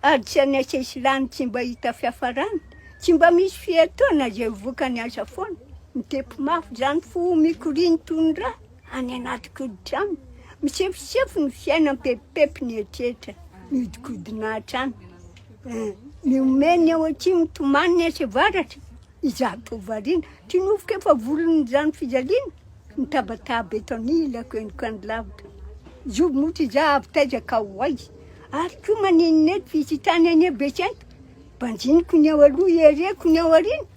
Ary tsy any an-tsesilany tsy mba hita fiafarana, tsy mba misy fiatoana izay ho vokany aza foana. Mitepo mafy izany fo mikoriany toy ny rà any anaty koditra any. Misefosefo ny fiaina mipepipepy ny eritreritra mihodinkodina hatrany. Mihomehy ny ao atsimo, mitomany ny etsy avaratra, izaho toa variana. Tinovoka efa volon'izany fijaliana. Mitabataba eto anilako eny ka ny lavitra Joby moa ty za avy taiza ka ho aiza Ary koa maninona eto vitsy tany anie Betsento Banjiniko ny ao aloha ihereko ny ao aoriana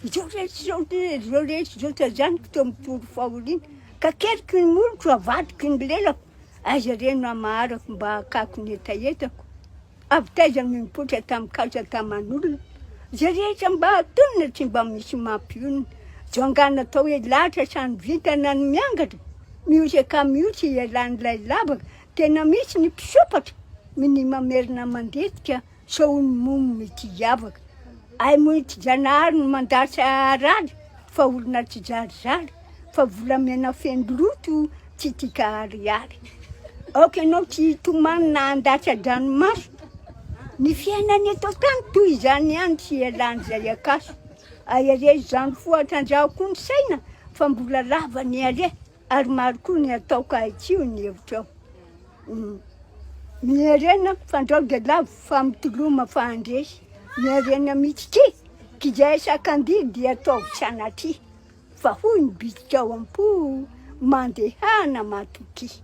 Izao rehetra izao ty izao rehetra izao Tajaniko teo amin'ny toro fahoriana Kakeriko ny moloko avadiko ny lelako Aiza re no hamaharako mba hakako ny hetahetako Avy taiza no nipoitra tamin'ny kaja taman'olona izay rehetra mba hatonina tsy mba misy mampionona zao angaha natao hoe latra sa ny vintana no miangatra mioza ka mihotsa ialan'ilay lavaka tena misy ny mpisompatra minia mamerina mandetika sao ho ny momo mety hiavaka ay moa i tsy Janahary no mandasa harary fa olona tsijarizary. fa volamena feno loto tsy tia ka ariary aoka ianao tsy hitomany na handatra an-dranomaso ny fiainana eto an-tany toy izany ihany tsy hialan'izay akaso ahiahiahy izany fo atrandrahako koa ny saina fa mbola lava ny hare ary maro koa ny atao ka haitsio ny hevitrao ny harena fandrao dia lavo fa mitoloma fa handresy ny harena mihitsy ity k'izay sakam-bidy dia ataovy sanatria Fa hoy ny bitsika ao am-po, Mandehana matokia.